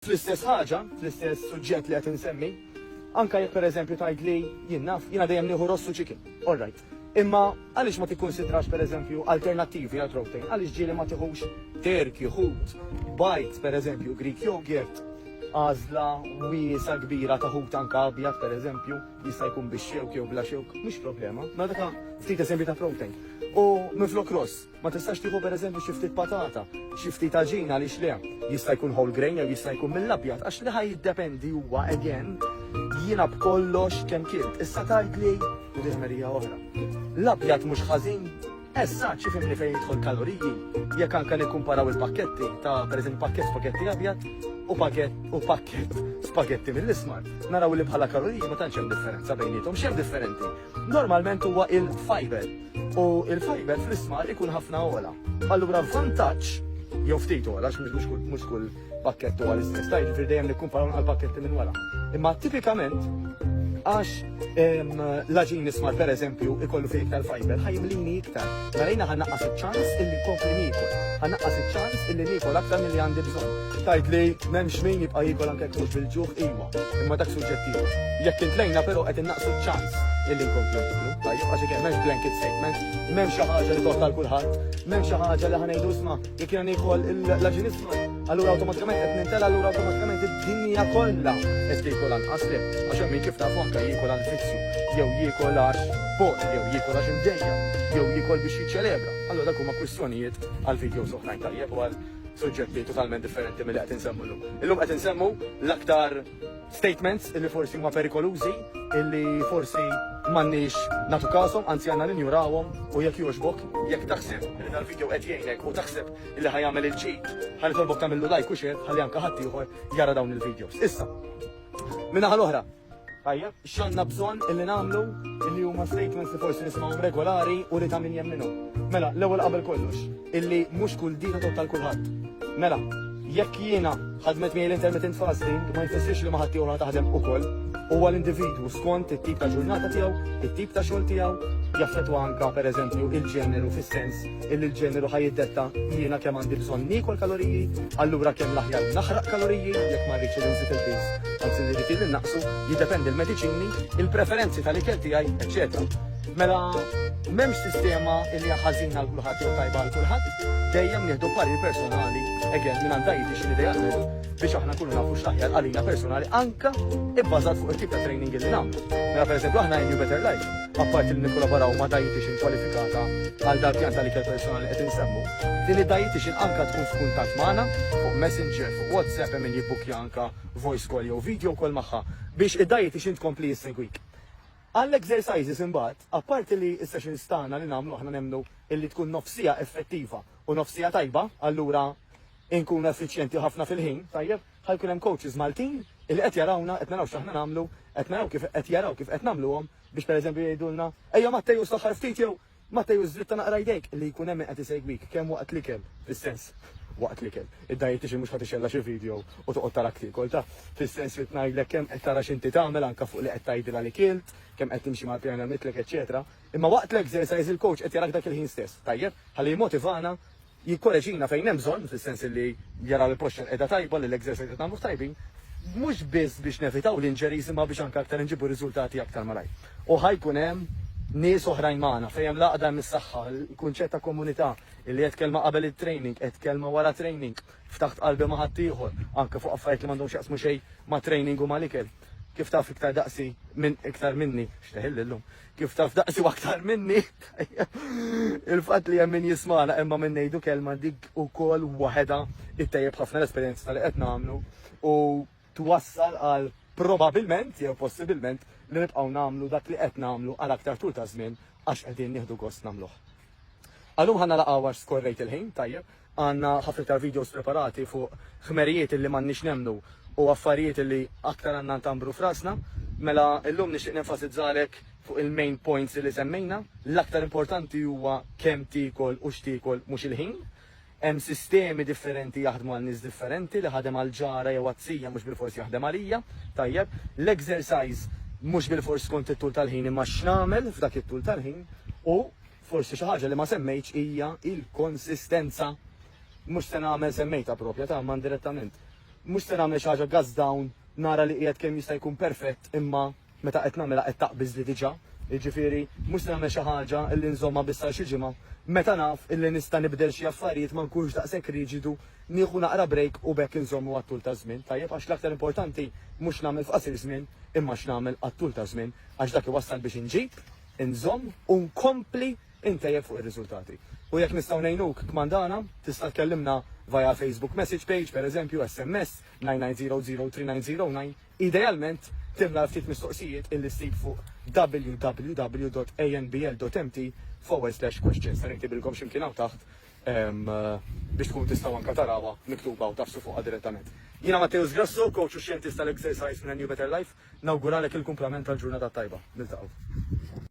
Fl-istess ħaġa, fl-istess suġġett li qed insemmi, anke jekk pereżempju tgħidli jien naf, jiena dejjem nieħu ross u chicken. All right. Imma għaliex ma tikkunsidrax pereżempju alternattivi għal protein? Għaliex ġieli ma tieħux terk, ħut, bajt pereżempju, Greek yogurt, għażla wiesa kbira ta' ħut anke abjad pereżempju, jista' jkun bix-xewk jew bla xewk, mhux problema. Ma dak ftit eżempji ta' protein. U minflok ross, Ma tistax tieħu pereżempju xi ftit patata, xi ftit aġina għaliex le. Jista' jkun whole grain jew jista' jkun mill-abjad għax li ħaj jiddependi huwa again jiena b'kollox kemm kilt. Issa tgħidli l-ġemerija oħra. L-abjad mhux ħażin Essa, ċifimni fejn jidħol kaloriji, jekk anka nikkumparaw il-pakketti ta' pereżempju pakket spagetti abjad u pakket u pakket spagetti mill-ismar. Naraw li bħala kaloriji ma tantx hemm differenza bejnietom, x'hemm differenti? normalment huwa il-fiber u il-fiber fl-ismar ikun ħafna ola. Allura vantaġġ jew ftit ola għax mhux kull pakkett huwa l-istess, tajn ġifier dejjem nikkumparaw għal pakketti minn wara. Imma tipikament għax l-aġin ismar per eżempju ikollu fih iktar fiber ħajmlini iktar. Narajna ħannaqqas iċ-ċans illi kompli nikol. Ħannaqqas iċ-ċans illi nikol aktar mill-li għandi bżonn. Tajt li m'hemmx min jibqa' jikol anke bil-ġuħ iva. Imma dak suġġettiv. Jekk intlejna però qed innaqsu ċ-ċans illi nkomplu nitlu. Tajjeb għax jekk m'hemmx blanket statement, m'hemm xi ħaġa li toħta l kulħadd, m'hemm xi ħaġa li ħanejdu isma' jekk jiena nieħol l-aġin isma'. Allura awtomatikament qed nintela allura awtomatikament id-dinja kollha qed tiekol anqas li għax hemm min kif nafu anke jiekol għal vizzju, jew jiekol għax bot, jew jiekol għax imdejja, jew jiekol biex jiċċelebra. Allura dak huma kwistjonijiet għal videos oħrajn tajjeb u għal suġġetti totalment differenti milli qed insemmu llum. Illum qed insemmu l-aktar statements illi forsi huma perikolużi, illi forsi m'għandniex nagħtu kashom, anzi għandna ninjurawhom u jekk jogħġbok, jekk taħseb li dal-video qed jgħinek u taħseb illi ħa jagħmel il-ġid, ħa nitolbok tagħmillu like u share ħalli anke ħaddieħor jara dawn il-videos. Issa, min-naħa l-oħra, Tajjeb, x'għandna bżonn illi nagħmlu illi huma statements li forsi nismgħuhom regolari u li ta' min jemminhom. Mela, l-ewwel qabel kollox, illi mhux kull dita totta l-kulħadd. Mela, jekk jiena ħadmet miegħi l-intermittent fasting ma jfissirx li ma ħadd ieħor taħdem ukoll. Huwa l-individwu skont it-tip ta' ġurnata tiegħu, it-tip ta' xogħol tiegħu, jaffettwa anka pereżempju il-ġeneru fis-sens illi l-ġeneru ħa jiddetta jiena kemm għandi bżonn niekol kaloriji, allura kemm l-aħjar naħraq kaloriji jekk ma rridx illi nżid il-piż, anzi li rrid illi nnaqsu, jiddependi l-mediċini, il-preferenzi tal-ikel tiegħi, eċċetera. Mela m'hemmx sistema illi hija ħażina għal kulħadd jew tajba għal kulħadd, dejjem nieħdu parir personali, again, minn għandha jiġi xi idealment biex aħna nkunu nafu x'aħjar għalina personali anka ibbażat fuq it-tip ta' training illi nagħmlu. Mela pereżempju aħna in New Better Life apparti li nikkolaboraw ma' dietician kwalifikata għal dal-pjan tal-ikel personali li qed insemmu, din id-dietician anka tkun f'kuntatt magħna fuq Messenger, fuq WhatsApp hemm min jibbukkja anka voice call jew video call magħha biex id-dietician tkompli issegwik. Għall-exercises imbagħad, apparti li s-sessions tagħna li nagħmlu aħna nemmnu illi tkun nofs siegħa effettiva u nofs siegħa tajba, allura inkunu effiċjenti ħafna fil-ħin, tajjeb? Ħa jkun hemm coaches Maltin illi qed jarawna, qed naraw x'aħna nagħmlu, qed naraw kif qed jaraw kif qed nagħmluhom biex pereżempju jgħidulna, ejja Matteus saħħar ftit jew Matteus żritta naqra jdejk, li jkun hemm min qed isegwik kemm waqt l-ikel, fis-sens waqt l-ikel. Id-dietitian mhux ħadd ixella xi video u toqgħod tarak tiekol ta' fis-sens li tnajdlek kemm qed tara x'inti tagħmel anke fuq li qed tgħidilha li kilt, kemm qed timxi mal-pjan għamitlek, eċetera. Imma waqt l-exercise il-coach qed jarak dak il-ħin stess, tajjeb, ħalli jmotivana jikkoreġina fejn hemm bżonn, fis-sens li jara li l-posture qiegħda tajba, li l-exercise qed nagħmluh tajbin, mhux biss biex nevitaw l-injuries imma biex anke aktar inġibu r-riżultati aktar malajr. U ħa jkun hemm nies oħrajn magħna, fejn hemm l-għaqda hemm is-saħħa, il-kunċett ta' komunità, illi għedt kelma qabel it-training, għedt kelma wara training, ftaħt qalbi ma' ħaddieħor, anke fuq affarijiet li m'għandhomx jaqsmu xejn mat-training u mal-ikel. Kif taf iktar daqsi minn iktar minni, xteħilli llum, kif taf daqsi aktar minni, il-fat li jemmin jismana imma minn nejdu kelma dik u kol waheda it-tajib ħafna l-esperienza tal qed namlu u twassal għal probabilment jew possibilment li nibqgħu namlu dak li qed namlu għal aktar tul ta' żmien għax qegħdin nieħdu gost namluh. Għallum ħanna laqgħu għax skorrejt il-ħin, tajjeb, Għandna ħafna iktar videos preparati fuq ħmerijiet li m'għandniex nemmnu u affarijiet li aktar għandna ntambru f'rasna. Mela illum nixtieq nenfasizzalek fuq il-main points li semmejna. L-aktar importanti huwa kemm tiekol u x'tiekol mhux il-ħin. Hemm sistemi differenti jaħdmu għal nies differenti, li ħadem għal ġara jew għat-tija mhux bilfors jaħdem għalija. Tajjeb, l-exercise mhux bilfors skont it-tul tal-ħin imma x'nagħmel f'dak it-tul tal-ħin u Forsi xi ħaġa li ma semmejtx hija l-konsistenza. Mhux se nagħmel semmejtha proprja ta' ma indirettament. Mhux se nagħmel xi ħaġa gazz down nara li qiegħed kemm jista' jkun perfett imma meta qed nagħmilha qed taqbiżli diġà. Jiġifieri mhux se nagħmel xi ħaġa li nżommha biss għal xi ġimgħa. Meta naf illi nista' nibdel xi affarijiet ma nkunx daqshekk riġidu, nieħu naqra break u b'hekk inżommu għat-tul taż-żmien, tajjeb għax l-aktar importanti mhux nagħmel f'qasir żmien imma x'nagħmel għat-tul taż-żmien għax dak iwassal biex inġib inżomm u nkompli intejjeb fuq ir-riżultati. U jekk nistgħu ngħinuk kmandana, tista' tkellimna via Facebook message page, pereżempju, SMS 99003909, idealment timla l-ftit mistoqsijiet illi ssib fuq www.anbl.mt forward slash questions. Ser inktibilkom x'imkien hawn taħt. biex tkun tistgħu anke tarawha miktuba u tgħaffsu fuqha direttament. Jiena Matteus Grasso, coach u xjentist tal-exercise minn A New Better Life, nawguralek il-kumplament tal-ġurnata t-tajba. Niltaqgħu.